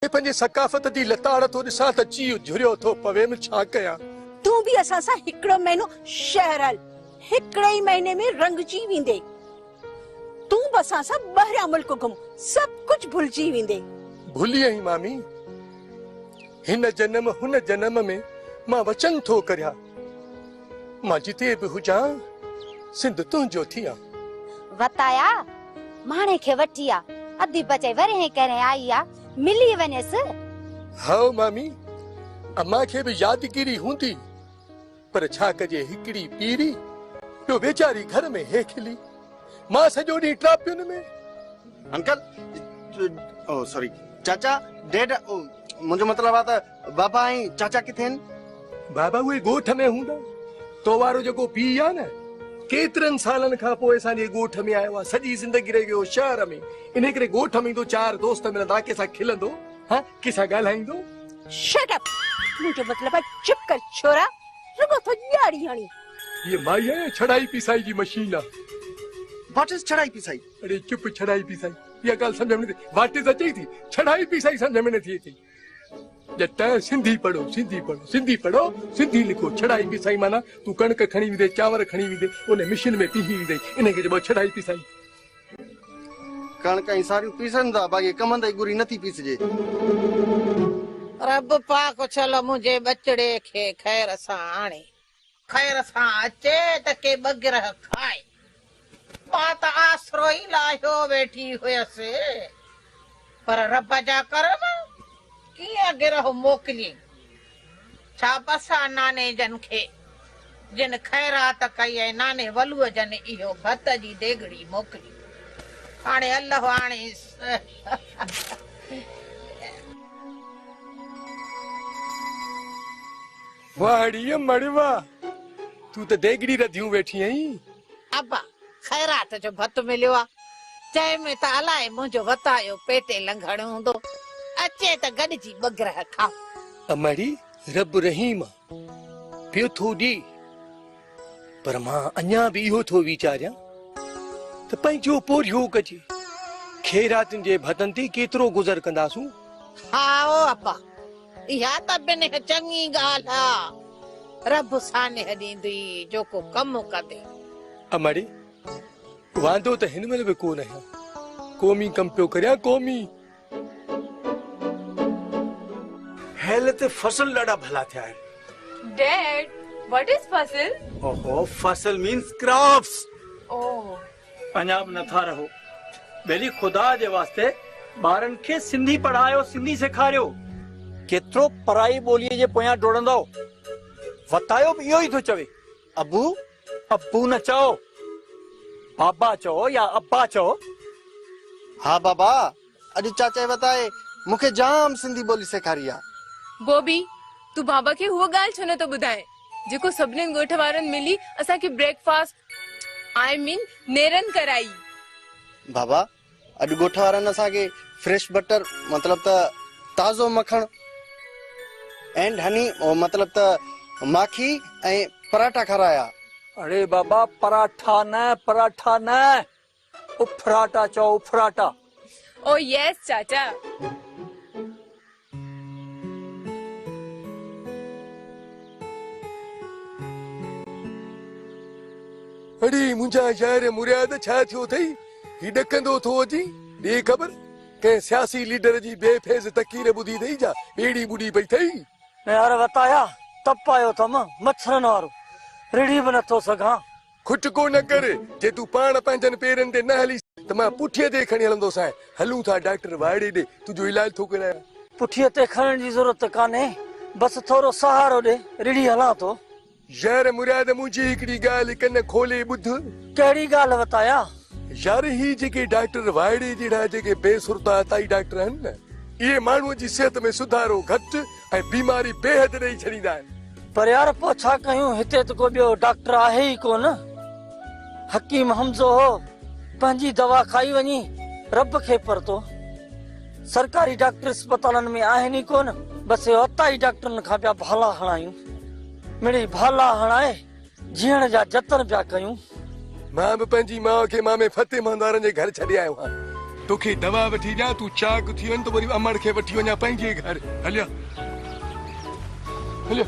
ڪي پنهنجي ثقافت جي لتاڙ ٿو ڏسان ته جيء جهريو ٿو پويم ڇا ڪيان. تون به اسان سان هڪڙو مهينو شهر هل هڪڙي ئي مهيني ۾ رنگجي ويندي تون به اسان سان ٻاهريان ملڪ گهم سڀ ڪجهه ڀلجي ويندي. ڀلي ائين مامي هن جنم هن جنم ۾ مان وچن ٿو ڪريان. مان جتي به هجان، سنڌ تنهنجو ٿيان. وتايا ماڻهي کي وٺي آ. اڌي بچي ورهين ڪرهين آئي آ، ملي وڃيس. هائو مامي، امان کي به يادگيري هوندي، پر ڇا ڪجي هڪڙي پيري جو ويچاري گهر ۾ هي کلي. مان سڄو ڏينهن ٽراپين ۾. انڪل او سوري چاچا ڊيڊ او منهنجو مطلب آ ته. بابا ۽ چاچا ڪٿي آهن؟ بابا اهي ڳوٺ ۾ هوندا. تو وارو جيڪو پيء آهي نه، ڪيترن سالن کان پوء اسان جي ڳوٺ ۾ آيو آهي. سڄي زندگي رهي ويو هو شهر ۾. انهيء ڪري ڳوٺ ۾ ايندو، چار دوست ملندا، ڪنهن سان کلندو، ها ڪنهن سان ڳالهائيندو. Shut up! منهنجو مطلب آهي چپ ڪر ڇورا، رڳو ٿو ڄاڙي هڻين. هيء مائي آهي يا ڇڙائي پيسائي جي مشين آهي؟ واٽ از ڇڙائي پيسائي؟ اڙي چپ! ڇڙائي پيسائي اها ڳالهه سمجهه ۾ نه ٿي. واٽ از اچئي ٿي، ڇڙائي پيسائي سمجهه ۾ نه ٿي اچئي. ڄٽ سنڌي پڙهو سنڌي پڙهو سنڌي پڙهو سنڌي لکو ڇڙائي پيسائي معنيٰ تون ڪڻڪ کڻي ويندين چانور کڻي ويندين ان مشين ۾ پيهي ويندين انهن کي چئبو آهي ڇڙائي پيسائي. ڪڻڪ ۽ ساريون پيسن ٿا باقي ڪمند ۽ ڳري نٿي پيسجي. رب پاڪ اڇل منهنجي ٻچڙي کي خير سان آڻي. خير سان اچي ته ڪي ٻه گرهه کائي. مان ته آسرو ئي لاهيو ويٺي هيس، پر رب جا ڪرم، ڪيئن گرهه موڪليئين. ڇا بس آ ناني جن کي، جن خيرات ڪئي ۽ ناني ولوء جن اهو ڀت جي ديڳڙي موڪلي. هاڻي الله آڻيس. واهه ڙيء مڙي واهه، تون ته ديڳڙي رڌيون ويٺي آهين. ابا، خيرات جو ڀت مليو آ، جنهن ۾ ته الائي منهنجو وتايو پيٽي لنگهڻ هوندو، اچي ته گڏجي ٻه گرهه کائون. امڙي، رب رحيم آ، پيو ٿو ڏي. پر مان اڃا به اهو ٿو ويچاريان ته پنهنجو پورهيو ڪجي، خيراتين جي ڀتن تي ڪيترو گذر ڪنداسون؟ هائو ابا، اها ته بنهه چڱي ڳالهه آ، رب سانحه ڏيندي جو ڪو ڪم ڪندي. امڙي، واندو ته هن مهل به ڪو نه آهيان، قومي ڪم پيو ڪريان، قومي. هيل تي فصل ڏاڍا ڀلا ٿيا آهن. Dad, what is فصل؟ اوهو فصل means crops. اوهه. اڃا به نٿا رهو. ٻيلي خدا جي واسطي ٻارن کي سنڌي پڙهايو سنڌي سيکاريو. ڪيترو پرائي ٻوليء جي پويان ڊوڙندؤ. وتايو به اهو ئي ٿو چوي. ابو، ابو نه چئو، بابا چئو يا ابا چئو. ها بابا، اڄ چاچائي وتائي مون کي جام سنڌي ٻولي سيکاري آ. بوبي، تون بابا کي هوء ڳالهه ڇو نه ٿو ٻڌائين، جيڪو سڀنين ڳوٺ وارن ملي اسان کي بريڪ فاسٽ آء مين نيرن ڪرائي. بابا، اڄ ڳوٺ وارن اسان کي فريش بٽر مطلب ته تازو مکڻ اينڊ هني مطلب ته ماکي ۽ پراٺا کارايا. اڙي بابا پراٺا نه پراٺا نه اڦراٽا چئو اڦراٽا. او ييس چاچا. اڙي منهنجا يار مرياد ڇا ٿيو اٿئي هي ڏڪندو ٿو اچي ڏي خبر ڪنهن سياسي ليڊر جي بي فيض تقرير ٻڌي اٿئي جا ٻيڙي ٻڏي پئي اٿئي. يار وتايا تپ آيو اٿم مڇرن وارو رڙهي به نٿو سگهان. کٽڪو نه ڪر، جي تون پاڻ پنهنجن پيرن تي نه هليس ته مان پٺيء تي ئي کڻي هلندوسانء. هلون ٿا ڊاڪٽر واڙي ڏي، تنهنجو علاج ٿو ڪرايان. پٺيء تي کڻڻ جي ضرورت ته ڪانهي، بس ٿورو سهارو ڏي، رڙهي هلان ٿو. يار مراد، منهنجي هڪڙي ڳالهه ڪن کولي ٻڌ. ڪهڙي ڳالهه وتايان؟ يار هي جيڪي ڊاڪٽر واڙي جهڙا جيڪي بي سرتا عطائي ڊاڪٽر آهن نه، اهي ماڻهوء جي صحت ۾ سڌارو گهٽ، ۽ بيماري بيحد ڏئي ڇڏيندا آهن. پر يار پوء ڇا ڪيون هتي ته ڪو ٻيو ڊاڪٽر آهي ئي ڪو نه. حڪيم حمزو هو پنهنجي دوا کائي وڃي رب کي پرتو. سرڪاري ڊاڪٽر اسپتالن ۾ آهن ئي ڪو نه بس اهو عطائي ڊاڪٽرن کان پيا ڀالا هڻايون. مڙئي ڀالا هڻائي جيئڻ جا جتن پيا ڪيون. مان به پنهنجي ماء کي مامي فتح مهندارن جي گهر ڇڏي آيو آهيان. توکي دوا وٺي ڏيان، تون چاق ٿي وڃ ته وري امڙ کي وٺي وڃان پنهنجي گهر. هليو هليو.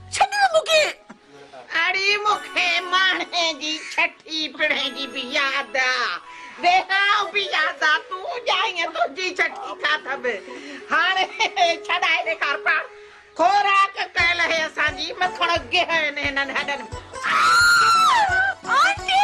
ڇڏيو مون کي. اڙي مون کي ماڻهي جي ڇٺي پڙهي جي به ياد آ. ويهانء به ياد آ. تون ڄائينء تنهنجي ڇٺي کاڌم. هاڻي ڇڏائي ڏيکار پاڻ. خوراڪ ڪيل هي اسان جي. مکڻ گهه آهن هنن هڏن ۾. آء! آنٽي!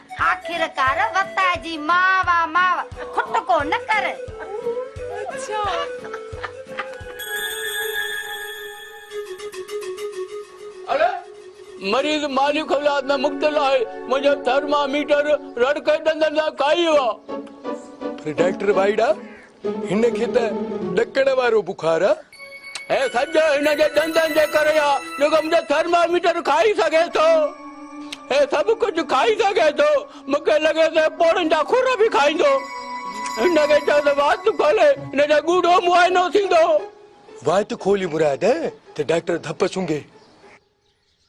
آخرڪار وتاء جي ماء وا ماء کٽڪو نه ڪر. اڙي مريض مالي خلات ۾ مبتلا آهي منهنجا ٿرماميٽر رڙ ڪري ڏندن سان کائي ويو آهي. پر ڊاڪٽر وائڙا هن کي ته ڏڪڻ وارو بخار آ. هي سڄو هن جي ڏندن جي ڪري آ جيڪو منهنجو ٿرماميٽر کائي سگهي ٿو. هي سڀ ڪجهه کائي سگهي ٿو. مون کي لڳي ٿو هي پوڙهن جا کر به کائيندو. هن کي چئو ته وات کولي هن جو ڳوڙهو معائنو ٿيندو. وات کولي مراد ته ڊاڪٽر ڌپ سونگهي.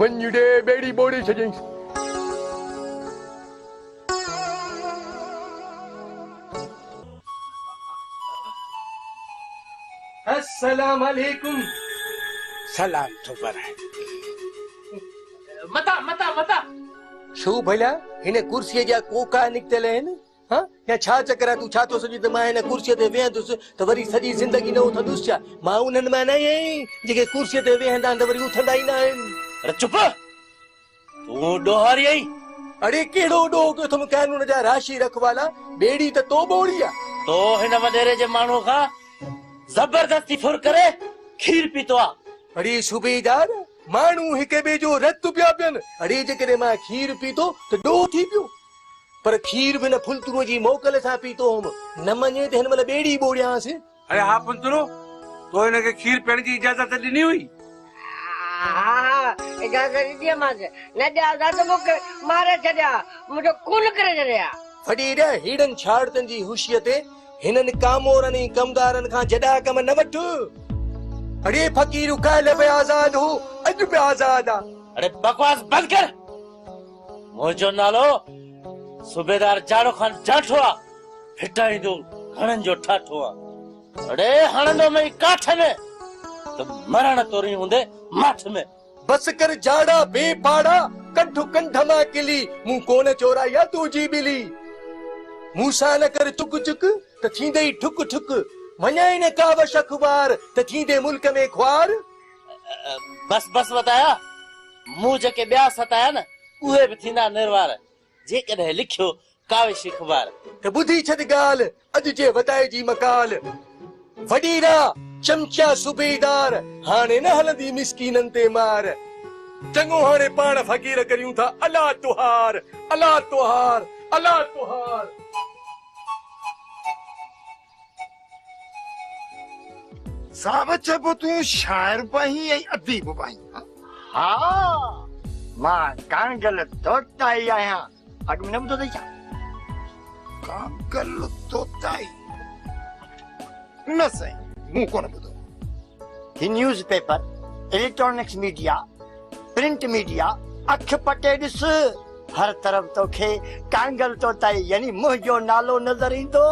ونڃڙي ٻيڙي ٻوڙي ڇڏيائينس. السلام عليڪم. سلام ٿو پرائين. متان متان متان. ڇو ڀلا هن ڪرسيء جا ڪوڪا نڪتل آهن؟ هه يا ڇا چڪر آهي تون ڇا ٿو سمجهين ته مان هن ڪرسيء تي ويهندس ته وري سڄي زندگي نه اٿندس ڇا مان انهن مان نه آهيان جيڪي ڪرسيء تي ويهندا آهن ته وري اٿندا ئي نه آهن اڙي چپ تون ڏوهاري آهين اڙي ڪهڙو ڏوهه ڪيو اٿم قانون جا راشي رکوالا ٻيڙي ته تو ٻوڙي آ. تو هن وڏيري جي ماڻهوء کان زبردستي ڦر ڪري کير پيتو آ. اڙي صوبيدار ماڻهو هڪ ٻئي جو رت پيا پين اڙي جيڪڏهن مان کير پيتو ته ڏوهه ٿي پيو. پر کير به نه ڦنترو جي موڪل سان پيتو هوم. نه مڃين ته هن مهل ٻيڙي ئي ٻوڙيانس. اڙي ها ڦنترو، تو هن کي کير پيئڻ جي اجازت ڏني هئي؟ ها ها، اجازت ڏني هئمانس. نه ڏيانس ها ته مونکي ماري ڇڏي ها، منهنجو خون ڪري ڇڏي ها. وڏي ڙي هيڙن ڇاڙتن جي هوشيء تي هنن ڪامورن ۽ ڪمدارن کان جڏا ڪم نه وٺ. اڙي فقير، ڪالهه به آزاد هو، اڄ به آزاد آ. اڙي بڪواس بند ڪر. منهنجو نالو صوبيدار جاڙو خان جاٺو آ، ڦٽائيندو گهڻن جو ٺاٺو آ. اڙي هڻندو مئي ڪاٺ ۾ ته مرڻ تورين هوندي ماٺ ۾. بس ڪر جاڙا بي پاڙا ڪڍ ڪنڌ مان ڪلي مون ڪونه چورائي آ تنهنجي ٻلي مون سان نه ڪر چڪ چڪ ته ٿيندئي ٺڪ ٺڪ وڃائي نه ڪاوش اخبار ته ٿيندي ملڪ ۾ خوار. بس بس وتايا، مون جيڪي ٻيا ستايا نه، اهي به ٿيندا نروار، جيڪڏهن لکيو ڪاوش اخبار. ته ٻڌي ڇڏ ڳالهه، اڄ جي وتائي جي مقال، وڏي را چمچيا صوبيدار، هاڻي نه هلندي مسڪينن تي مار، چڱو هاڻي پاڻ فقير ڪريون ٿا الا تهار، الا تهار، الا تهار. صاحب چئبو تون شاعر به آهين ۽ اديب به آهين ها مان ڪانگل توتائي آهيان اڳ ۾ نه ٻڌو اٿئي ڇا ڪانگل توتائي نه سائين مون ڪونه ٻڌو هي newspaper, electronics media, print media, اک پٽي ڏس، هر طرف توکي ڪانگل طوطائي يعني منهنجو نالو نظر ايندو.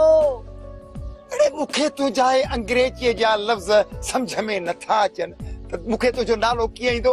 اڙي مون کي تنهنجا اهي انگريزيء جا لفظ سمجهه ۾ نٿا اچن ته مون کي تنهنجو نالو ڪيئن ايندو؟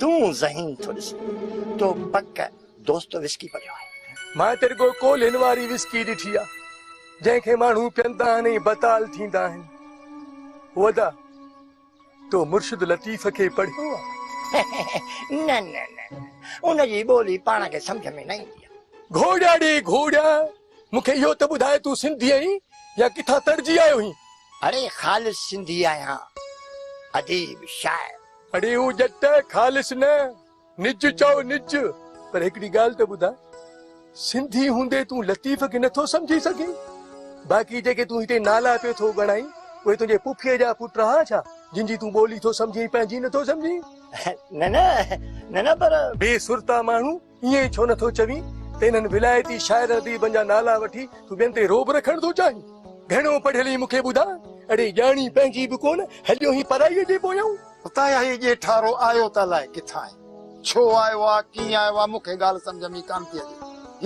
تون ذهين ٿو ڏسي تو پڪ دوست وسڪي پڙهيو آهي. مان ته رڳو ڪولهين واري وسڪي ڏٺي آهي جنهن کي ماڻهو پيئندا آهن ۽ بتال ٿيندا آهن. هودا تو مرشد لطيف کي پڙهيو آهي؟ نه نه نه ان جي ٻولي پاڻ کي سمجهه ۾ نه ايندي آهي. گهوڙيا ڙي گهوڙيا! مون کي اهو ته ٻڌاء تون سنڌي آهين يا ڪٿان تڙجي آيو هين؟ اڙي خالص سنڌي آهيان اديب شاعر. اڙي هو ڄٽ خالص نه نج چئو نج پر هڪڙي ڳالهه ته ٻڌاء سنڌي هوندي تون لطيف کي نٿو سمجهي سگهين باقي جيڪي تون هتي نالا پيو ٿو ڳڻائين اهي تنهنجي پڦيء جا پٽ رها ڇا جن جي تون ٻولي ٿو سمجهين پنهنجي نٿو سمجهين. نه نه نه نه پر. بي سرتا ماڻهو ائين ڇو نه ٿو چوين ته انهن ولايتي شاعرن اديبن جا نالا وٺي تون ٻين تي رعب رکڻ ٿو چاهين؟ گهڻو پڙهيل آهين مون کي ٻڌاء، اڙي ڄاڻي پنهنجي به ڪونه، هليو آهين پرائيء جي پويان. اتان اهي ڄيٺارو آيو ته الاء ڪٿان آهي، ڇو آيو آهي، ڪيئن آيو آهي، مون کي ڳالهه سمجهه ۾ ئي ڪانه ٿي اچي.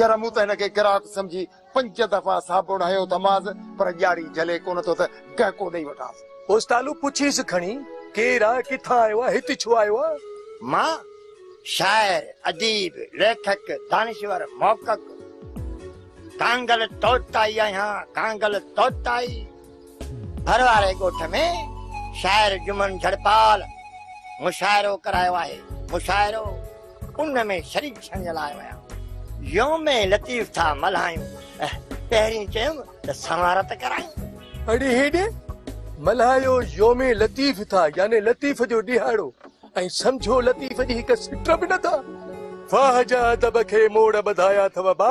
ير مون ته هن کي گراهڪ سمجهي پنج دفعا صاحب اڙايو ته ماس پر ڄاڙي جهلي ڪونه ٿو ته گهڪو ڏئي وٺانس. پوسٽالو پڇيس کڻي، ڪير آ، ڪٿان آيو آ، هت ڇو آيو آ؟ مان شاعر، اديب، ليکڪ، دانشور، محقق ڪانگل طوطائي آهيان، ڪانگل طوطائي. ڀر واري ڳوٺ ۾ شاعر جمن جھڙپال مشاعرو ڪرايو آهي. مشاعرو ان ۾ شريڪ ٿيڻ جي لاء ويم. يوم لطيف ٿا ملهايون. پهرين چيم ته سنوار ته ڪرايون. اڙي هيڏي ملهايو يوم لطيف ٿا يعني لطيف جو ڏهاڙو ۽ سمجهو لطيف جي هڪ سٽ به نه ٿا. واهه جا ادب کي موڙ ٻڌايا اٿو ابا.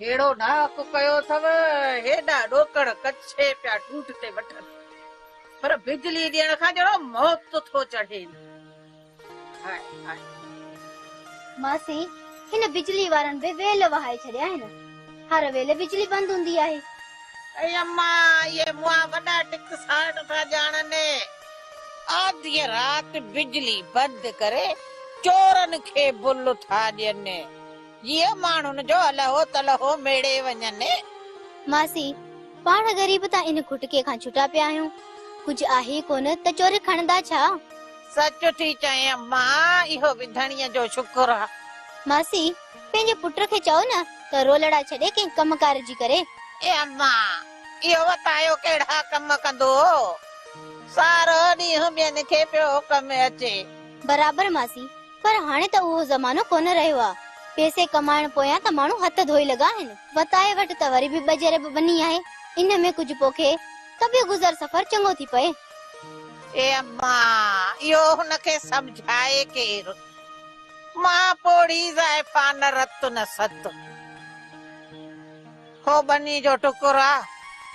ھيڙو ڏھاڪ ڪيو اٿم، ھيڏا ڏوڪڙ ڪڇي پيا ٺوٺ تي وٺن، پر بجلي ڏيڻ کان ڄڻو موت ٿو چڙھين. High high. ماسي، ھن بجلي وارن به ويل وھائي ڇڏيا آھن. ھر ويل بجلي بند ھوندي آھي. اي اما، اھي مئا وڏا ٽڪ ساٽ ٿا ڄاڻن. آڌيء رات بجلي بند ڪري چورن کي بل ٿا ڏين. جيئن ماڻهن جو الهو تلهو ميڙي وڃن. ماسي، پاڻ غريب ته ان ڪٽڪي کان ڇٽا پيا آهيون. ڪجهه آهي ڪونه ته چوري کڻندا ڇا؟ سچ ٿي چئين اما، اهو به ڌڻيء جو شڪر آ. ماسي، پنهنجي پٽ کي چئو نه ته رولڙا ڇڏي ڪنهن ڪم ڪار جي ڪري. اي اما، اهو وتايو ڪهڙا ڪم ڪندو هو. سارو ڏينهن ٻين کي پيو ڪم اچي. برابر ماسي، پر هاڻي ته اهو زمانو ڪونه رهيو آ. پيسي ڪمائڻ پويان ته ماڻهو هٿ ڌوئي لڳا آهن. وتايي وٽ ته وري به ٻه جريب ٻني آهي. ان ۾ ڪجهه پوکي ته به گذر سفر چڱو ٿي پئي. اي اما! اهو هن کي سمجهائي ڪير؟ مان پوڙهي زائفا نه رت نه ست. هو ٻني جو ٽڪر آ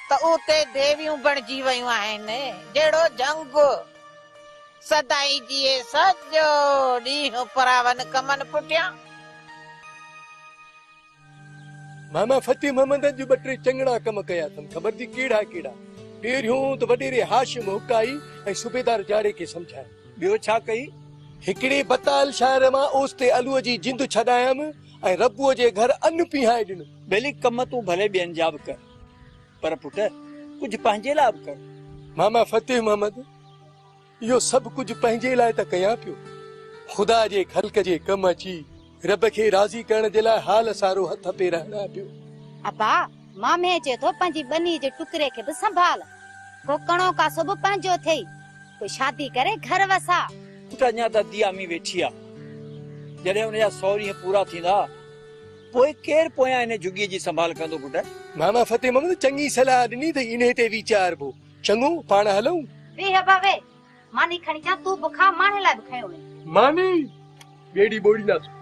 ته اتي ديويون بڻجي ويون آهن. جهڙو جهنگ. سدائين جيئي سڄو ڏينهن پراون ڪمن پٺيان. ماما فتح محمد اڄ ٻه ٽي چڱڙا ڪم ڪيا اٿم خبر ٿي ڪهڙا ڪهڙا. پهريون ته وڏيري هاشم حق آئي ۽ صوبيدار جاڙي کي سمجهايو. ٻيو ڇا ڪئي؟ هڪڙي بتال شاعر مان اوستي الوء جي جند ڇڏايم ۽ ربوء جي گهر ان پيهائي ڏنو. ٻلي ڪم تون ڀلي ٻين جا به ڪر. پر پٽ ڪجهه پنهنجي لاء به ڪر. ماما فتح محمد اهو سڀ ڪجهه پنهنجي لاء ته ڪيان پيو، خدا جي خلق جي ڪم اچي رب کي راضي ڪرڻ جي لاء حال سارو هٿ پير هڻان پيو. ابا مامي چئي ٿو پنهنجي ٻني جي ٽڪري کي به سنڀال، ڪو ڪڻو ڪاسو به پنهنجو ٿئي، ڪو شادي ڪري گهر وساء. پٽ اڃا ته ديا ۾ ويٺي آ، جڏهن ان جا سؤ ڏينهن پورا ٿيندا پوء ڪير پويان انهيء جهڳيء جي سنڀال ڪندو پٽ؟ ماما فتح محمد چڱي صلاح ڏني ته انهيء تي ويچاربو. چڱو، پاڻ هلون. ويهه ابا ويهه. ماني کڻي اچان، تون به کاء، ماڻهن لاء به کنيو وڃي. ماني ٻيڙي ٻوڙينداسون.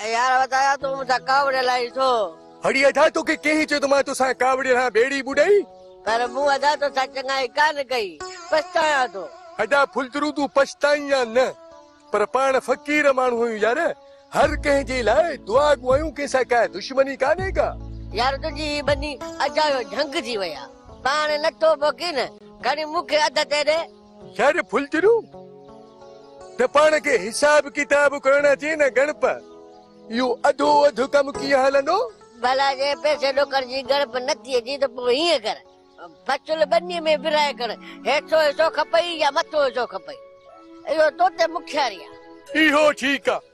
اي يار وڌايا تون مون سان ڪاوڙ لاهي ڇو؟ هڙي ادا توکي ڪنهن چيو ته مان توسان ڪاوڙي رهان ٻيڙي ٻڏائي. پر مون ادا توسان چڱائي ڪانه ڪئي پڇتايان ٿو. ادا ڦلدرو تون پڇتائين يا نه پر پاڻ فقير ماڻهو آهيون يار هر ڪنهن جي لاء دعا گو آهيون ڪنهن سان ڪا دشمني ڪانهي ڪا. يار تنهنجي هي ٻني اجايو جهنگ ٿي وئي آ پاڻ نٿو پوکين کڻي مون کي اڌ تي ڏي. شاعر ڦلجھرو ته پاڻ کي حساب ڪتاب ڪرڻ اچي نه ڳڻپ اهو اڌو اڌ ڪم ڪيئن هلندو؟ ڀلا جي پئسي ڏوڪڙ جي ڳڻپ نٿي اچي ته پوء هيئن ڪر بچل ٻني ۾ ورهائي کڻ هيٺون حصو کپئي يا مٿون حصو کپئي اهو توتي مکياري آهي. اهو ٺيڪ آهي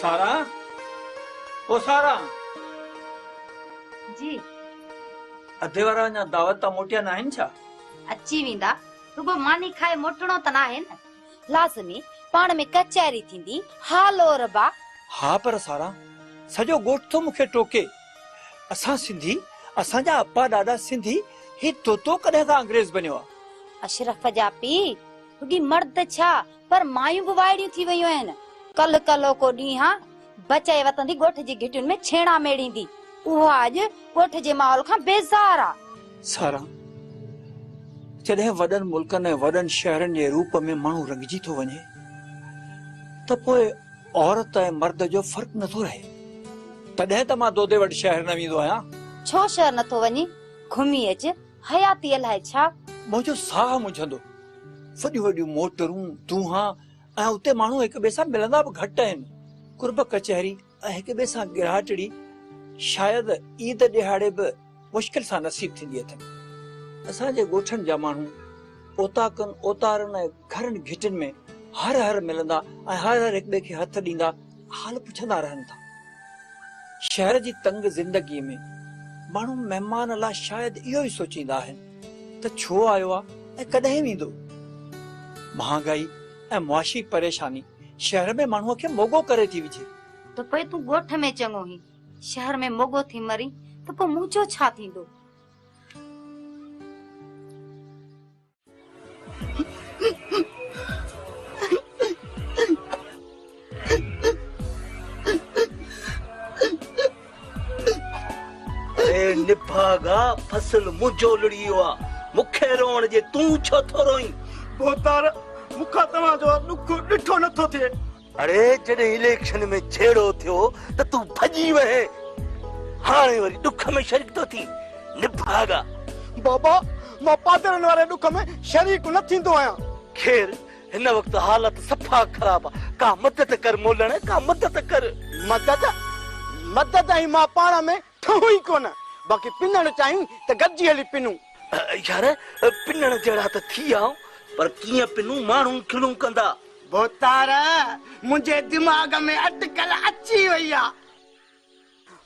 سارا او سارا. جي. اڌي وارا اڃا دعوت تان موٽيا ناهن ڇا؟ اچي ويندا. رڳو ماني کائي موٽڻو ته ناهي نه. لازمي پاڻ ۾ ڪچهري ٿيندي. ها لوربا. ها پر سارا سڄو ڳوٺ ٿو مونکي ٽوڪي. اسان سنڌي اسان جا اپا ڏاڏا سنڌي هي طوطو ڪڏهن کان انگريز بنيو آ. اشرف جا پي رڳي مرد ڇا پر مايون به وائڙيون ٿي ويون آهن. ڪلهه ڪلهوڪو ڏينهان بچي وتندي ڳوٺ جي گهٽين ۾ ڇيڻا ميڙيندي. اها اڄ ڳوٺ جي ماحول کان بيزار آ. ساران، جڏهن وڏن ملڪن ۽ وڏن شهرن جي روپ ۾ ماڻهو رڱجي ٿو وڃي ته پوء عورت ۽ مرد جو فرق نه ٿو رهي. تڏهن ته مان دودي وٽ شهر نه ويندو آهيان. ڇو شهر نه ٿو وڃين؟ گهمي اچ. حياتيء لاء ڇا؟ منهنجو ساهه منجهندو. وڏيون وڏيون موٽرون، دونها ۽ اتي ماڻهو هڪ ٻئي سان ملندا به گهٽ آهن. قرب ڪچهري ۽ هڪ ٻئي سان ڳرهاٽڙي شايد عيد ڏهاڙي به مشڪل سان نصيب ٿيندي اٿن. اسان جي ڳوٺن جا ماڻهو اوطاقن، اوطارن ۽ گهرن گهٽين ۾ هر هر ملندا ۽ هر هر هڪ ٻئي کي هٿ ڏيندا. حال پڇندا رهن ٿا. شهر جي تنگ زندگيء ۾ ماڻهو مهمان لا شايد اهو ئي سوچيندا آهن ته ڇو آيو آ ۽ ڪڏهن ويندو؟ مهانگائي ۽ معاشي پريشاني شهر ۾ ماڻهوء کي موڳو ڪري ٿي وجهي. ته پوء تون ڳوٺ ۾ چڱو هين، شهر ۾ موڳو ٿي مرين ته پوء مون جو ڇا ٿيندو؟ نڀاڳا فصل منهنجو لڙي ويو آ مون کي روئڻ ڏي تون ڇو ٿو روئين؟ ڀوتار مون کان توهان جو ڏک ڏٺو نٿو ٿئي. اڙي جڏهن اليڪشن ۾ جهيڙو ٿيو ته تون ڀڄي وئي هاڻي وري ڏک ۾ شريڪ ٿو ٿين نڀاڳا. بابا مان پادرن واري ڏک ۾ شريڪ نه ٿيندو آهيان. خير هن وقت حالت صفا خراب آ ڪا مدد ڪر مولڻ ڪا مدد ڪر. مدد مدد ۽ مان پاڻ ۾ ٺهون ئي ڪونه، باقي پنڻ چاهيون ته گڏجي هلي پنون. يار پنڻ جهڙا ته ٿي آئون، پر ڪيئن پنون ماڻهو کلون ڪندا. ڀوتار منهنجي دماغ ۾ اٽڪل اچي وئي آ.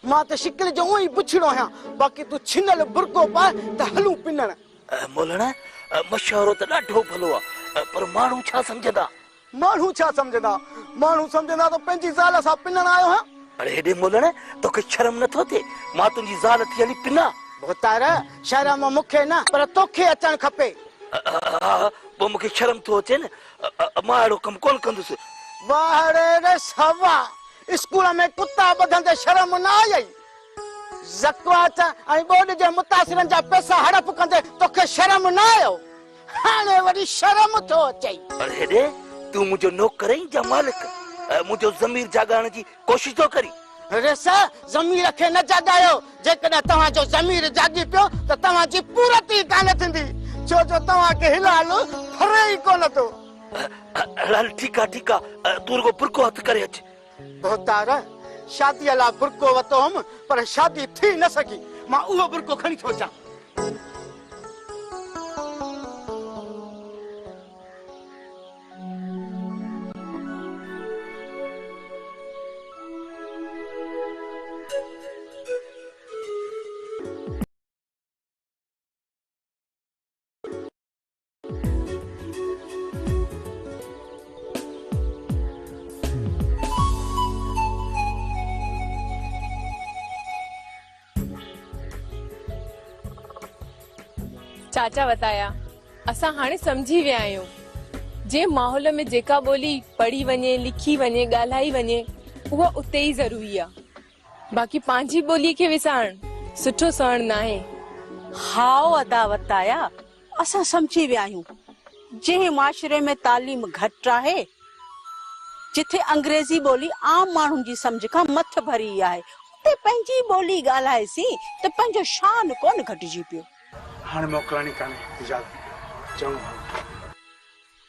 مان ته شڪل جو اونئن ئي بڇڙو آهيان، باقي تون ڇنل برقعو پاء ته هلون پنڻ. مولڻ مشورو ته ڏاڍو ڀلو آ، پر ماڻهو ڇا سمجهندا؟ ماڻهو ڇا سمجهندا؟ ماڻهو سمجهندا تو پنهنجي زال سان پنڻ آيو آهيان. اڙي هيڏي ملڻ، توکي شرم نه ٿو ٿئي؟ مان تنهنجي زال ٿي هلي پنا؟ ڀوتار، شرم مون کي نه پر توکي اچڻ کپي. ها پوء مون کي شرم ٿو اچي نه. مان اهڙو ڪم ڪونه ڪندس. واهڙي رس هوا، اسڪول ۾ ڪتا ٻڌندي شرم نه آيئي؟ زڪواچ ۽ ٻوڏ جي متاثرن جا پئسا هڙپ ڪندي توکي شرم نه آيو؟ هاڻي وري شرم ٿو اچئي. پر هيڏي تون منهنجو نوڪر آهين جا مالڪ؟ منهنجو ضمير جاڳائڻ جي ڪوشش ٿو ڪرين؟ ريس، ضمير کي نه جاڳايو. جيڪڏهن توهان جو ضمير جاڳي پيو ته توهان جي پورت ئي ڪانه ٿيندي. ڇو جو توهان کي هل حل ڦري ئي ڪونه ٿو. هل هل ٺيڪ آهي ٺيڪ آهي. تون رڳو برقعو هٿ ڪري اچ. ڀوتار، شاديء لاء برقعو ورتو هوم، پر شادي ٿي نه سگهي. مان اهو برقعو کڻي ٿو اچان. چاچا وتايا اسان هاڻي سمجهي ويا آهيون جنهن ماحول ۾ جيڪا ٻولي پڙهي وڃي لکي وڃي ڳالهائي وڃي اها اتي ئي ضروري آهي باقي پنهنجي ٻولي کي وسارڻ سٺو سهڻ ناهي هائو ادا وتايا اسان سمجهي ويا آهيون جنهن معاشري ۾ تعليم گهٽ آهي جتي انگريزي ٻولي عام ماڻهن جي سمجهه کان مٿ ڀري ئي آهي اتي پنهنجي ٻولي ڳالهائيسين ته پنهنجو شان ڪونه گهٽجي پيو. هاڻي موڪلائڻي ڪانهي اجازت ڏيو چڱو هلو.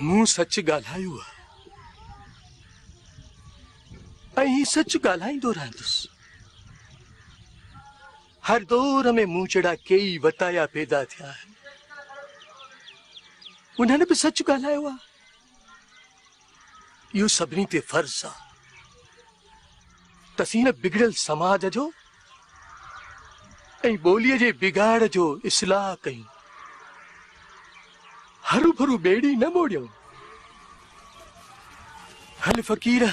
مون سچ ڳالهايو آهي ۽ سچ ڳالهائيندو رهندس. هر دور ۾ مون جهڙا ڪيئي وتايا پيدا ٿيا آهن. انهن به سچ ڳالهايو آهي. اهو سڀني تي فرض آ ته سين بگڙيل سماج جو ۽ ٻوليء جي بگاڙ جو اصلاح ڪيون. هروڀرو ٻيڙي نه ٻوڙيون. هل فقيره!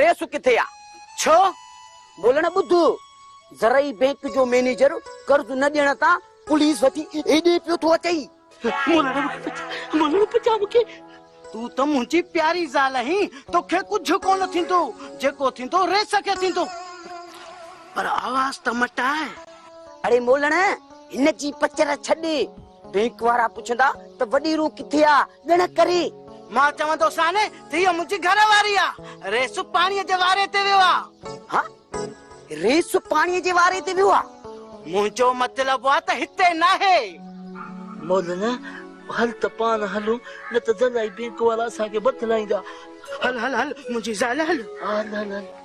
ريس ڪٿي آ ڇو بولڻ ٻڌ زرعي بينڪ جو مينيجر قرض نه ڏيڻ تان پوليس وٽي ايڏي پيو ٿو اچئي مولڻ پچا مونکي تون ته منهنجي پياري زال آهين توکي ڪجهه ڪونه ٿيندو جيڪو ٿيندو ريس کي ٿيندو پر آواز ته مٽاء اڙي مولڻ هن جي پچر ڇڏ بينڪ وارا پڇندا ته وڏي روح ڪٿي آ؟ ڄڻ ڪري. مان چوندوسان ته هيء منهنجي گهر واري آ. ريس پاڻيء جي واري تي ويو آ. ها؟ ريس پاڻيء جي واري تي ويو آ؟ منهنجو مطلب آ ته هتي ناهي. مولانا، هل ته پاڻ هلون، نه ته زلائي بينڪ وارا اسان کي بتلائيندا. هل هل هل منهنجي زال هل. هل هل هل.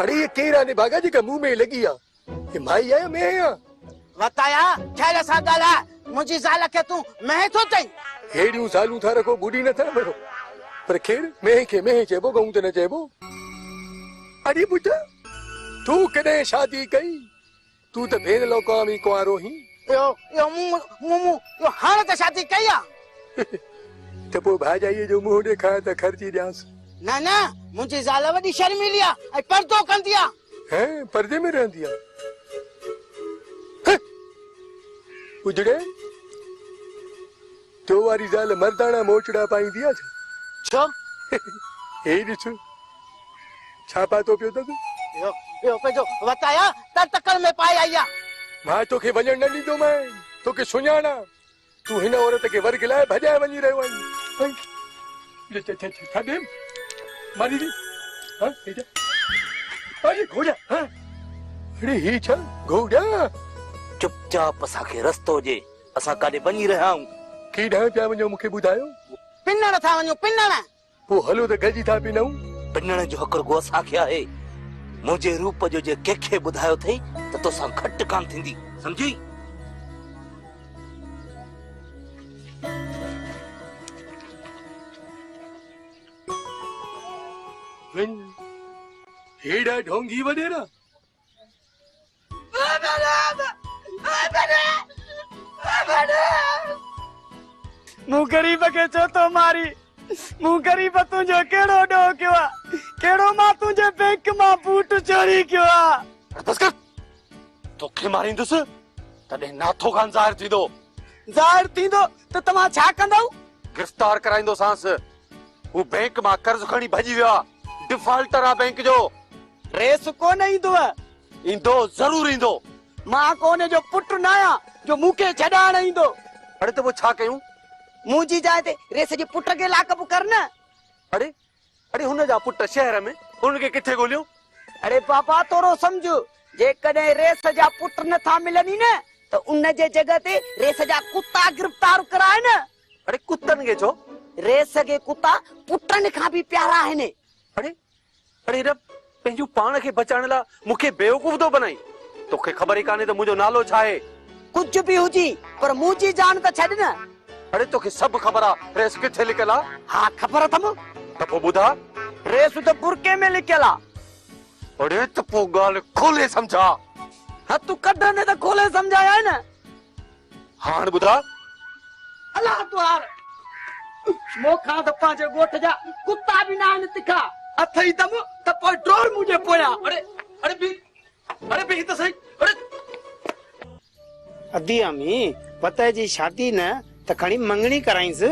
اڙي هيء ڪير آهي نڀاڳا جيڪا مون ۾ لڳي آ. هي مائي آ يا مينهن آ؟ وتايا خير سان ڳالهاء. منهنجي زال کي تون مينهن ٿو چئين؟ ههڙيون زالون ٿا رکو ٻوڏي نه ٿا مڙو. پر خير مينهن کي مينهن چئبو ڳئون ته نه چئبو. اڙي پٽ تون ڪڏهن شادي ڪئي؟ تون ته ڀيڻ لوڪان به ڪنوارو هين. اهو اهو مون مون مون اهو هاڻ ته شادي ڪئي آ. ته پوء ڀائجائيء جو منهن ڏيکار ته خرچي ڏيانس. نه نه منهنجي زال وڏي شرميلي آ ۽ پردو ڪندي آ. هين پردي ۾ رهندي آ. هه! اجڙي! تو واري زال مرداڻا موچڙا پائيندي آ ڇا؟ ڇو؟ هي ڏس ڇا پاتو پيو اٿس. اهو اهو پنهنجو وت آهيا تنهن تڪڙ ۾ پائي آئي آ. مان توکي وڃڻ نه ڏيندومانء، توکي سڃاڻا. تون هن عورت کي ورگهه لاء ڀڄائي وڃي رهيو آهين. ڇا ڏيم ماري ڏي ها هي ڇا اڙي گهوڙيا ها اڙي هي ڇا گهوڙيا. چپ چاپ اسان کي رستو ڏي. اسان ڪاڏي وڃي رهيا آهيون؟ ڪي ڏانهن پيا وڃو مون کي ٻڌايو؟ پنڻ ٿا وڃون پنڻ. پوء هلو ته گڏجي ٿا پنئون. پنڻ جو حق رڳو اسان کي آهي. منهنجي روپ جو جي ڪنهن کي ٻڌايو اٿئي ته توسان گهٽ ڪانه ٿيندي. سمجهي؟ وڃ هيڏانهن ڍونگي وڏيرا. مون غريب کي ڇو ٿو مارين؟ مون غريب تنهنجو ڪهڙو ڏوهه ڪيو آ؟ ڪهڙو مان تنهنجي بينڪ مان بوٽ چوري ڪيو آ؟ بس ڪر توکي ماريندس تڏهن ناٿو خان ظاهر ٿيندو. ظاهر ٿيندو ته توهان ڇا ڪندؤ؟ گرفتار ڪرائيندوسانس. هو بئنڪ مان قرض کڻي ڀڄي ويو آ ڊفالٽر آ بئنڪ جو. ريس ڪونه ايندوء. ايندو ضرور ايندو. مان ڪو ان جو پٽ ناهيان جو مون کي ڇڏائڻ ايندو. اڙي ته پوء ڇا ڪيون؟ منهنجي جاء تي ريس جي پٽ کي لاڪ اپ ڪر نه. اڙي اڙي هن جا پٽ شهر ۾ هن کي ڪٿي ڳوليون؟ اڙي بابا ٿورو سمجهه جيڪڏهن ريس جا پٽ نٿا ملن ئي نه ته ان جي جڳهه تي ريس جا ڪتا گرفتار ڪرائي نه. اڙي ڪتن کي ڇو؟ ري سگهي ڪتا پٽن کان به پيارا آهن. اڙي اڙي رب پنهنجون پاڻ کي بچائڻ لا مون کي بيوقوف ٿو بنائين. تو کي خبر ئي ڪانهي ته منهنجو نالو ڇا آهي. ڪجهه به هجي پر منهنجي جان ته ڇڏ نه. اڙي تو کي سڀ خبر آ ريس ڪٿي لڪيل آ. ها خبر اٿم. ته پو ٻڌاء. ريس ته برقعي ۾ لڪيل آ. اڙي ته پو ڳالهه کولي سمجهاء. هٿ ڪڍندي ته کولي سمجهايانء نه. هاڻ ٻڌاء. الله توهان مون کان ته پنهنجي ڳوٺ جا ڪتا به ناهن تکا. اٿئي دم ته پوء ڊوڙ منهنجي پويان. اڙي اڙي بيهه اڙي بيهه ته سهي اڙي. ادي امي وتهه جي شادي نه ته کڻي مڱڻي ڪرائينس.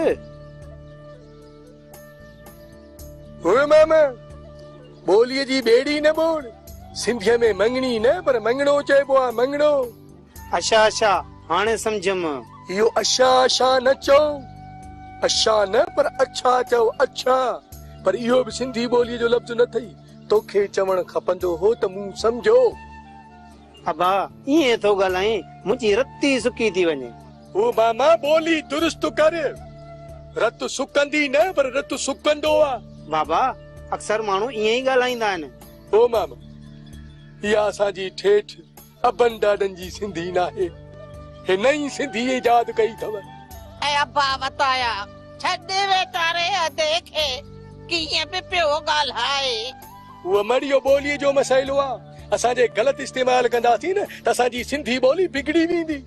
هوء ماما ٻوليء جي ٻيڙي نه ٻوڙ. سنڌيء ۾ مڱڻي نه پر مڱڻو چئبو آهي مڱڻو. اشا اشا هاڻي سمجهيم. اهو اشا اشا نه چئو. اشا نه پر اڇا چئو اڇا. پر اهو به سنڌي ٻوليء جو لفظ نه ٿئي. توکي چوڻ کپندو هو ته مون سمجهيو. ابا ائين ٿو ڳالهائين منهنجي رت ئي سڪي ٿي وڃي. او ماما ٻولي درست ڪر. رت سڪندي نه پر رت سڪندو آ. بابا اڪثر ماڻهو ائين ئي ڳالهائيندا آهن. او ماما اها اسان جي ٺيٺ. ابن ڏاڏن جي سنڌي ناهي هي نئين سنڌي ايجاد ڪئي اٿو. اي ابا وتايا ڇڏ ويٽاري ادي کي ڪيئن به پيو ڳالهائي. اهو مڙيو ٻولي جو مسئلو آ اسان جي غلط استعمال ڪنداسين نه ته اسان جي سنڌي ٻولي بگڙي ويندي.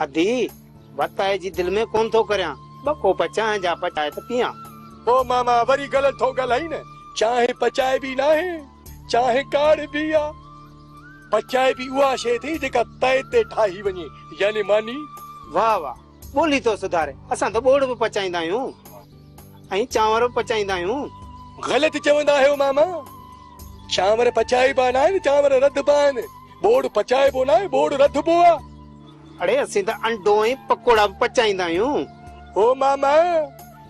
ادي وتايي جي دل ۾ ڪون ٿو ڪريان ٻه ڪوپ چانهه جا پچائي ته پيان. او ماما وري غلط ٿو ڳالهائين نه چانهه پچائبي ناهي. چانهه ڪاڙهبي آ، پر چائبي اها شيء ٿي جيڪا تئي تي ٺاهي وڃي، يعني ماني. واهه واهه ٻولي ٿو سڌاري. اسان ته ٻوڙ به پچائيندا آهيون ۽ چانور به پچائيندا آهيون. غلط چوندا آهيو ماما. چانور پچائبا ناهن، چانور رڌبا آهن. ٻوڙ پچائبو ناهي، ٻوڙ رڌبو آ. اڙي اسين ته انڊو ۽ پڪوڙا به پچائيندا آهيون. هو ماما،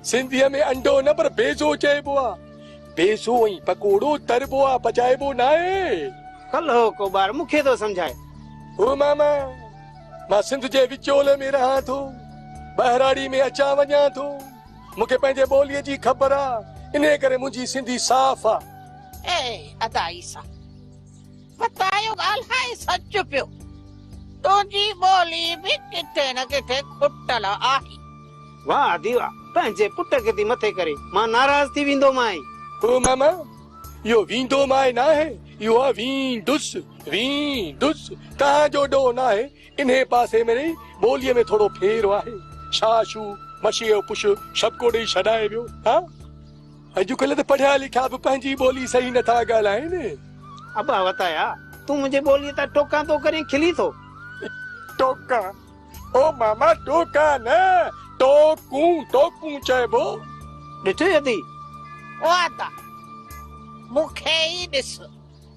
سنڌيء ۾ انڊو نه پر بيضو چئبو آ. پيسو ۽ پڪوڙو تربو آ پچائبو ناهي. ڪلهو ڪو ٻار مون کي ٿو سمجهائي. هو ماما مان سنڌ جي وچولي ۾ رهان ٿو. ٻهراڙي ۾ اچان وڃان ٿو. مون کي پنهنجي ٻوليء جي خبر آ. انهيء ڪري منهنجي سنڌي صاف آ. اي ادا عيسيٰ! ستايو ڳالهائي سچ پيو تنهنجي ٻولي به ڪٿي نه ڪٿي کٽل آهي. واهه ادي واهه پنهنجي پٽ کي ٿي مٿي ڪرين مان ناراض ٿي ويندومانء. او ماما اهو ويندومانء ناهي اهو آهي ويندس ويندس توهان جو ڏوهه ناهي انهي پاسي ۾ رهي ٻولي ۾ ٿورو ڦير آهي شا شو مشيء جو پش شبڪو ڏئي شڏائي ويو ها. اڄڪلهه ته پڙهيا لکيا به پنهنجي ٻولي صحيح نه ٿا ڳالهائين. ابا وتايا، تون منهنجي ٻوليء تان ٽوڪان ٿو ڪرين، کلين ٿو. ٽوڪان؟ او ماما ٽوڪان نه، ٽوڪون، ٽوڪون چئبو. ڏٺئي اڌي؟ او ادا، مون کي ئي ڏس.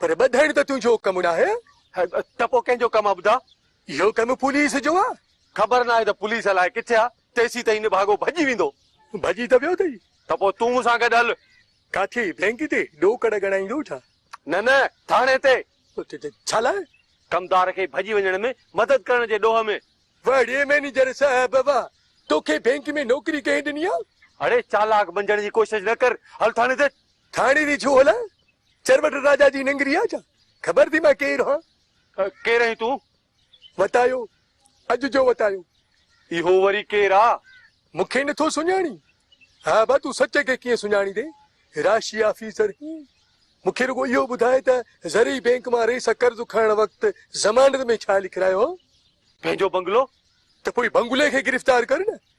پر ٻڌڻ ته تنهنجو ڪم ناهي. ته پوء ڪنهن جو ڪم آ ٻڌاء؟ اهو ڪم پوليس جو آ. خبر ناهي ته پوليس الائي ڪٿي آ. تيسين تائين نڀاڳو ڀڄي ويندو. ڀڄي ته ويو اٿئي. ته پوء تون مون سان گڏ هل. ڪاٿي؟ بئنڪ تي ڏوڪڙ ڳڻائيندو ڇا؟ نه نه، ٿاڻي تي. ڇا لاء؟ ڪمدار کي ڀڄي وڃڻ ۾ مدد ڪرڻ جي ڏوهه ۾. وڙي مئنيجر صاحب، واهه! توکي بئنڪ ۾ نوڪري ڪنهن ڏني آ؟ اڙي چالاڪ بنجڻ جي ڪوشش نه ڪر. هل ٿاڻي تي. ٿاڻي ري ڇو هلان؟ چربٽ راجا جي ننگري آ ڇا؟ خبر ٿي مان ڪير هان؟ ڪير آهين تون؟ وتايو، اڄ جو وتايو. اهو وري ڪير آ؟ مون کي نٿو سڃاڻين؟ ها با تون سچ کي ڪيئن سڃاڻيندين؟ راشي آفيسر هين؟ مون کي رڳو اهو ٻڌاء ته زرعي بينڪ مان رئيس سان قرض کڻڻ وقت ضمانت ۾ ڇا لکرايو هان؟ پنهنجو بنگلو. ته پوء بنگلي کي گرفتار ڪر نه.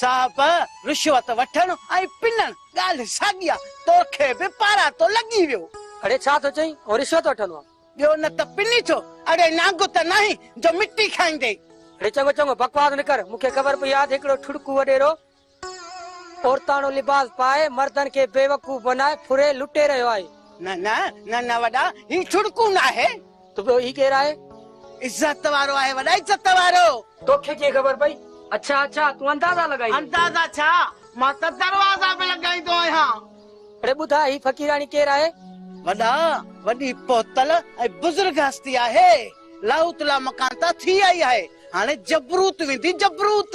صاحب رشوت وٺڻ ۽ پنڻ ڳالهه ساڳي آ، توکي به پاراٽو لڳي ويو. اڙي ڇا ٿو چئين هو رشوت وٺندو آ. ٻيو نه ته پني ٿو. اڙي نانگ ته ناهين جو مٽي کائيندين. اڙي چڱو چڱو بڪواس نه ڪر، مون کي خبر پئي آ ته هڪڙو ٺڙڪو وڏيرو عورتاڻو لباس پائي مردن کي بيوقوف بنائي ڦري لٽي رهيو آهي. نه نه نه نه وڏا هي ٺڙڪو ناهي. ته ٻيو هي ڪير آهي؟ عزت وارو آهي وڏا عزت وارو. توکي ڪيئن خبر پئي؟ اڇا اڇا تون اندازا لڳائيندين. اندازا ڇا مان ته دروازا به لڳائيندو آهيان. اڙي ٻڌاء هي فقيراڻي ڪير آهي؟ وڏا وڏي پهتل ۽ بزرگ هستي آهي. لاهوت لامڪان تان ٿي آئي آهي. هاڻي جبروت ويندي جبروت.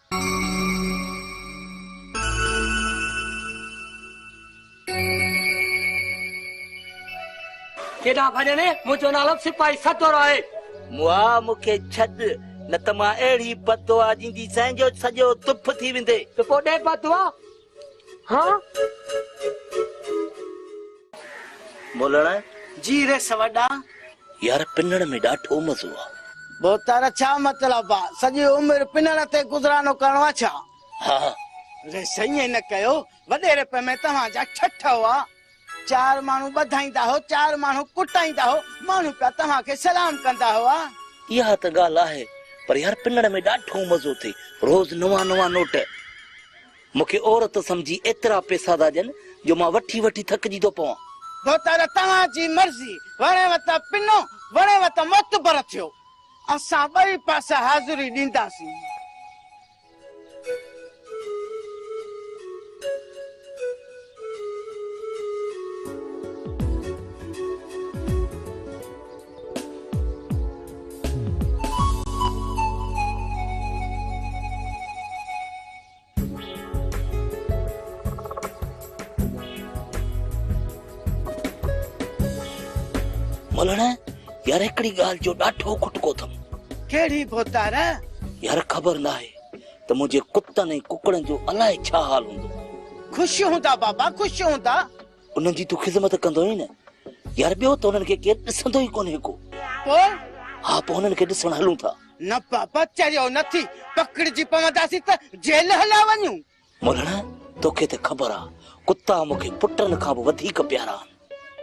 ڪيڏانهن ڀڄڻي؟ منهنجو نالو سپاهي سدو راء آهي. مئا مون کي ڇڏ، نه ته مان اهڙي بددعا ڏينديسين جو سڄو تف ٿي ويندين. ته پوء ڏي بددعا. ها. مولڻ جي رس وڏا. يار پنڻ ۾ ڏاڍو مزو آ. ڀوتار ڇا مطلب آ. سڄي عمر پنڻ تي گذرانو ڪرڻو آ ڇا. ها. ريس ائين نه ڪيو. وڏي رپ ۾ توهان جا ٺٺ هئا. چار ماڻهو ٻڌائيندا هو چار ماڻهو ڪٽائيندا هو ماڻهو پيا توهان کي سلام ڪندا هئا. اها ته ڳالهه آهي پر يار پنڻ ۾ ڏاڍو مزو ٿي روز نوان نوان نوٽ. مون کي عورت سمجهي ايترا پيسا ٿا ڏين جو مان وٺي وٺي ٿڪجي ٿو پوان. دوتر توهان جي مرضي، وڻيو ته پنو، وڻيو ته معتبر ٿيو. اسان ٻئي پاسي حاضري ڏينداسين. ملڻ يار هڪڙي ڳالهه جو ڏاٺو کٽڪو اٿم. ڪهڙي ڀوتار؟ يار خبر ناهي ته منهنجي ڪتن ۽ ڪڪڙن جو الائي ڇا حال هوندو. خوش هوندا بابا خوش هوندا. انهن جي تون خدمت ڪندو آهين نه يار ٻيو ته انهن کي ڪير ڏسندو ئي ڪونهي ڪو پوء ها پوء انهن کي ڏسڻ هلون ٿا. نه بابا چريو نه ٿي پڪڙجي پونداسين ته جيل هليا وڃون. مولڻ توکي ته خبر آ ڪتا مون کي پٽن کان به وڌيڪ پيارا آهن.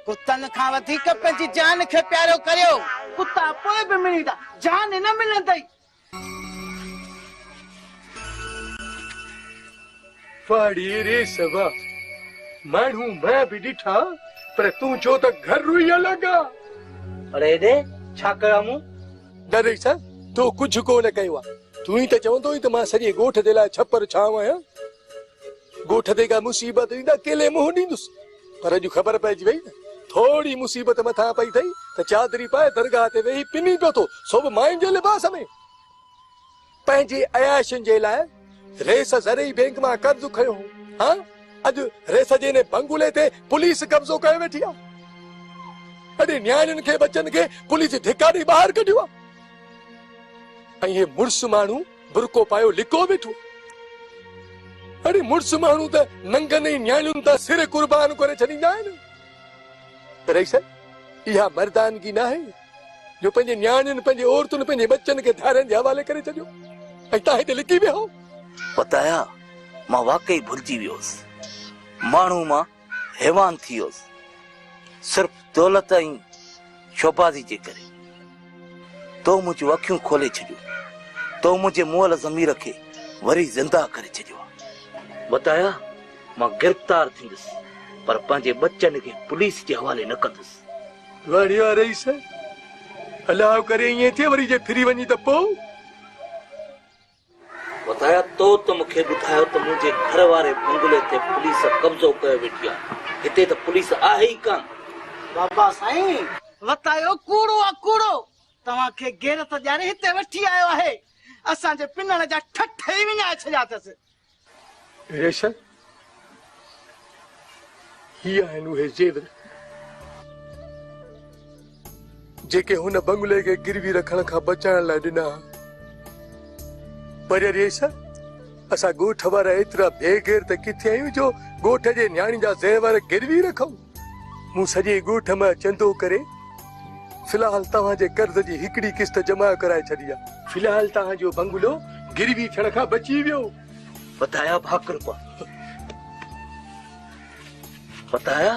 ڪتن کان وڌيڪ پنهنجي جان کي پيارو ڪريو. ڪتا پوء به مڙيندا جان نه ملندئي. واڙي ري سوا ماڻهو مئن به ڏٺا پر تون جو ته گهر روئي الڳ آ. پر هيڏي ڇا ڪيو آ مون؟ دادئي سان تو ڪجهه ڪو نه ڪيو آ. تون ئي ته چوندو هئين ته مان سڄي ڳوٺ جي لاء ڇپر ڇانو آهيان. ڳوٺ تي ڪا مصيبت ايندي اڪيلي منهن ڏيندس. پر اڄ خبر پئجي وئي نه ٿورڙي مصيبت مٿان پئي ٿئي ته چادري پائي درگاهه تي ويهي پني پيو ٿو سو به ماين جي لباس ۾. پنهنجي عياشين جي لاء ريس زرعي بينڪ مان قرض کنيو هو هان اڄ ريس جي انهي بنگلي تي پوليس قبضو ڪيو ويٺي آهي. اڙي نياڻين کي ٻچن کي پوليس ڌڪا ڏئي ٻاهر ڪڍيو آهي ۽ هي مڙس ماڻهو برقعو پايو لڪو ويٺو. اڙي مڙس ماڻهو ته ننگن ۽ نياڻين تان سر قربان ڪري ڇڏيندا آهن. رئيس اها مردانگي ناهي جو پنهنجي نياڻين پنهنجي عورتن پنهنجي ٻچن کي ڌارين جي حوالي ڪري ڇڏيو ۽ تان هتي لڪي ويهو. پتايا مان واقعي ڀلجي ويو هوس. ماڻهو مان. حيوان ٿي ويوس صرف دولت ۽ شوبازي جي ڪري تو منهنجون اکيون کولي ڇڏيون تو منهنجي مئل ضمير کي وري زنده ڪري ڇڏيو ٻڌايا مان گرفتار ٿيندس پر پنهنجي ٻچن کي پوليس جي حوالي نه ڪندس واڙيا رئيس الله ڪري ائين ٿئي وري جي ڦري وڃي ته پوء وڌايا تو ته مون کي ٻڌايو ته منهنجي گهر واري بنگلي تي پوليس قبضو ڪيو ويٺي آ. هتي ته پوليس آهي ئي ڪانه. بابا سائين! وتايو ڪوڙو آ ڪوڙو. توهان کي غيرت ڏياري هتي وٺي آيو آهي. اسان جي پنڻ جا ٺٺ ئي وڃائي ڇڏيا اٿس. ريشا، هي آهن اهي زيور، جيڪي هن بنگلي کي گروي رکڻ کان بچائڻ لاء ڏنا ها. پر ريشا، اسان ڳوٺ وارا ايترا بي غيرت ڪٿي آهيون جو ڳوٺ جي نياڻين جا زيور گروي رکون؟ مون سڄي ڳوٺ مان چندو ڪري في الحال توهان جي قرض جي هڪڙي قسط جمع ڪرائي ڇڏي آهي. في الحال توهان جو بنگلو گروي ٿيڻ کان بچي ويو. فتاحا ڀاڪر پيو. فتاحا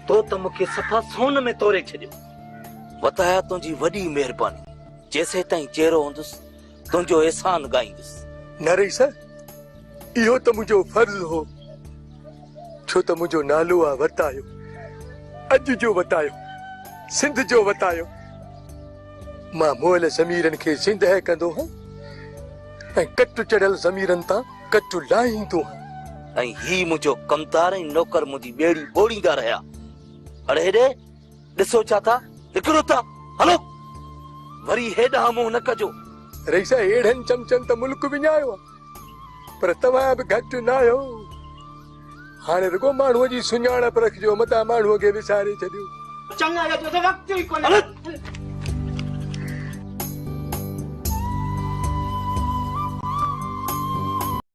تو ته مون کي صفا سون ۾ توري ڇڏيو. فتاحا تنهنجي وڏي مهرباني. جيسيتائين جيئرو هوندس تنهنجو احسان ڳائيندس. نه رئيس! اهو ته منهنجو فرض هو، ڇو ته منهنجو نالو آ وتايو. اڄ جو وتايو، سنڌ جو وتايو. مان مئل ضميرن کي زندهه ڪندو هان ۽ ڪٽ چڙهيل ضميرن تان ڪٽ لاهيندو هان. ۽ هي منهنجو ڪمدار ۽ نوڪر منهنجي ٻيڙي ٻوڙيندا رهيا. اڙي هيڏي، ڏسو ڇا ٿا هڪرو ته هلو وري هيڏانهن منهن نه ڪجو. رئيس اهڙن چمچن ته ملڪ وڃايو آ پر توهان به گهٽ ناهيو هاڻي رڳو ماڻهو جي سڃاڻپ رکجو متان ماڻهو کي وساري ڇڏيو. چڱا يا جو ته وقت ئي ڪونهي.